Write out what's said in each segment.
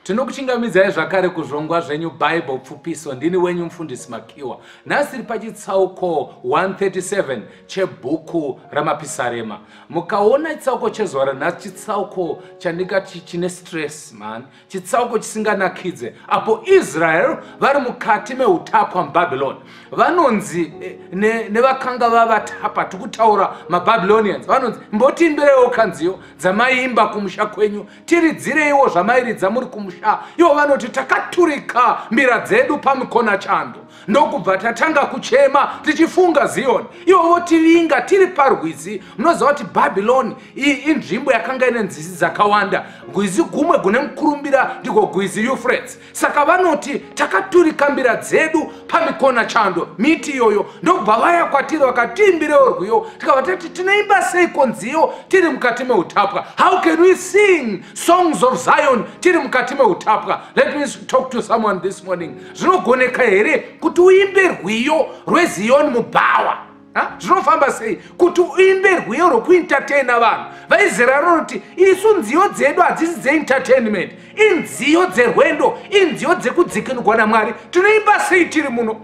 Tinokuchingamidzai zvakare kuzvongwa zvenyu Bible pfupiso. Ndini wenyu mufundisi Makiwa. Nhasi tiri pachitsauko 137 chebhuku raMapisarema. Mukaona chitsauko chezuva ranhasi chitsauko chandingati chine stress man, chitsauko chisinganakidze apo Israel vari mukati meutapwa muBabylon. Vanonzi eh, ne- nevakanga vavatapa tikutaura maBabylonians vanonzi mbotiimbireiwo kanziyo dzamaiimba kumusha kwenyu tiridzireiwo zvamairidza muri kumusha ivo vanoti takaturika mbira dzedu pamikona chando ndokubva tatanga kuchema tichifunga ziyoni ivo votivinga tiri parwizi munoziva kuti bhabhiloni iyi inzvimbo yakanga ine nzizi dzakawanda gwizi gumwe gune mukurumbira ndiko gwizi yufrets saka vanoti takaturika mbira dzedu pamikona chando miti iyoyo ndokubva vaya kwatiri vakatiimbirewo rwiyo tikabva tati tinoimba seiko nziyo tiri mukati meutapwa how can we sing songs of zion tiri mukati meutapwa let me talk to someone this morning zvinogoneka here kuti uimbe rwiyo rweziyoni mubhawa zvinofamba sei kuti uimbe rwiyo rwekuentertaina vanhu vaizera rinoti isu nziyo dzedu hadzisi dzeentertainment inziyo dzerwendo inziyo dzekudzikinurwa namwari tinoimba sei tiri muno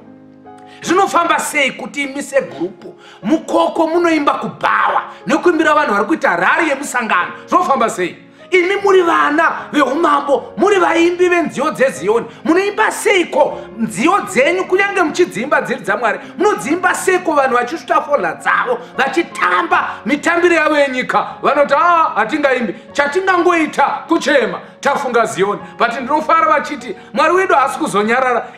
zvinofamba sei kuti imi segrupu mukoko munoimba kubhawa nekuimbira vanhu vari kuita rari yemusangano zvinofamba sei imi muri vana veumambo muri vaimbi venziyo dzeziyoni munoimba seiko nziyo dzenyu kunyange muchidziimba dziri dzamwari munodziimba seiko vanhu vachisvuta fola dzavo vachitamba mitambiro yavo yenyika vanoti aa ah, hatingaimbi chatingangoita kuchema tafunga ziyoni but ndinofara vachiti mwari wedu haasi kuzonyarara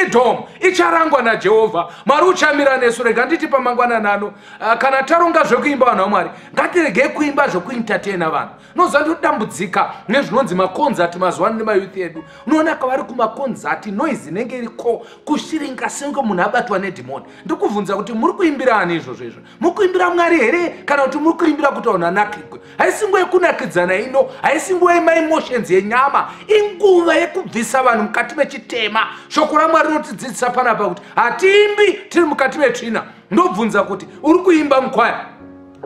idom icharangwa najehovha mwari uchamira nesu rega nditi pamangwananano Ah, kana taronga zvekuimba vanhu vamwari ngatiregei kuimba zvekuentertaina vanhu noziva ndodambudzika nezvinonzi makonzati mazuva ano nemayouth edu unoona kavari kumakonzati noise inenge iri ko kushiringa senge munhu abatwa nedhimoni ndikubvunza kuti muri kuimbira ani izvozvo izvo muri kuimbira mwari here kana kuti muri kuimbira kuti vanhu anakigwe haisi nguva yekunakidzana ino haisi nguva yemaemotions yenyama inguva yekubvisa vanhu mukati mechitema shoko ramwari rinotidzidzisa panapa kuti hatiimbi tiri mukati metsvina ndobvunza kuti uri kuimba mukwaya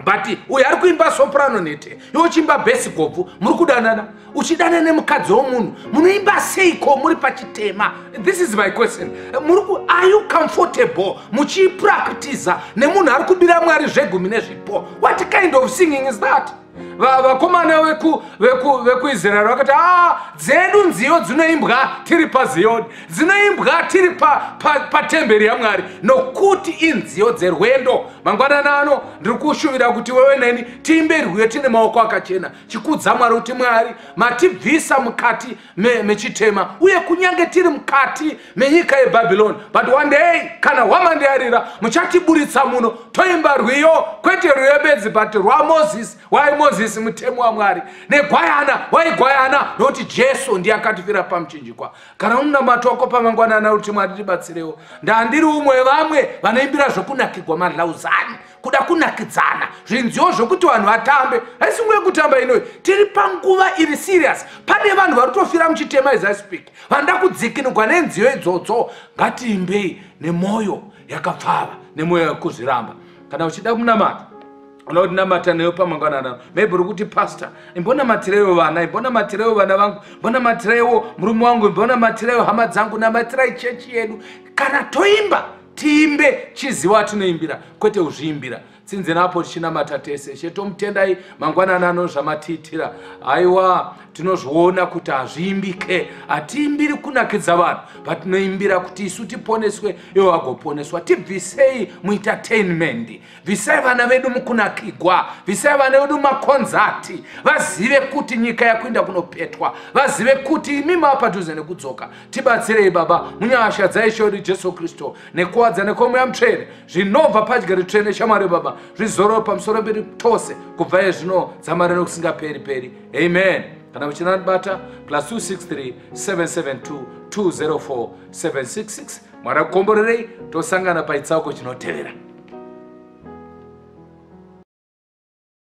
but uyo ari kuimba soprano nete yochimba besi gobvu muri kudanana uchidana nemukadzi womunhu munoimba seiko muri pachitema this is my question muri ku are you comfortable muchiipractiza nemunhu ari kubira mwari zvegumi nezvipo what kind of singing is that vakomana vekuisraeri vakati a ah, dzedu nziyo dzinoimbwa tiri paziyoni dzinoimbwa tiri patemberi yamwari nokuti inziyo dzerwendo mangwanani ano ndiri kushuvira kuti wewe neni tiimbe rwiyo tine maoko akachena chikudza mwari kuti mwari matibvisa mukati mechitema uye kunyange tiri mukati menyika yebhabhironi but one day kana hwamande yarira muchatiburitsa muno toimba rwiyo kwete rwiyo bedzi but rwamozisi waimozisi mutemo wamwari negwayana waigwayana nokuti jesu ndiye akatifira pamuchinjikwa kana unonamatwa wako pamangwanana kuti mwari tibatsirewo ndandiri umwe vamwe vanoimbira zvokunakigwa madlauzani kuda kunakidzana zvinziwo zvokuti vanhu vatambe haisi nguva yekutamba inoyi tiri panguva iri serious pane vanhu vari kutofira muchitema as i speak vanoda kudzikinugwa nenziyo idzodzo ngatiimbei nemwoyo yakapfava nemwoyo yekuzviramba kana uchida kunamata unoda kuti namata neyo pamangwanana maybe uri kuti pastor imbonamatireyo vana imbonamatireyo vana vangu imbonamatireyo murume wangu imbonamatireyo hama dzangu namatirai chechi yedu kana toimba tiimbe chiziva atinoimbira kwete uzviimbira tsinzina apo tichinamata tese chetomutendai mangwanani ano zvamatiitira haiwa tinozviona kuti hazviimbike hatiimbiri kunakidza vanhu patinoimbira kuti isu tiponeswe ivo vagoponeswa tibvisei muitatenmendi bvisai vana vedu mukunakigwa bvisai vana vedu makonzati vazive kuti nyika yakuenda kunopetwa vazive kuti imi maapadhuze nekudzoka tibatsirei baba munyasha dzaisho ri jesu kristu nekuwadza nekwomweya mutsvene zvinobva padya ritsvene shamwari baba zvizoro pamusoro mberi tose kubva ye zvino dzamari nokusingaperi peri amen kana muchina ndibata plus 263 772 204 766 mwari akukomborerei tosangana paitsauko chinotevera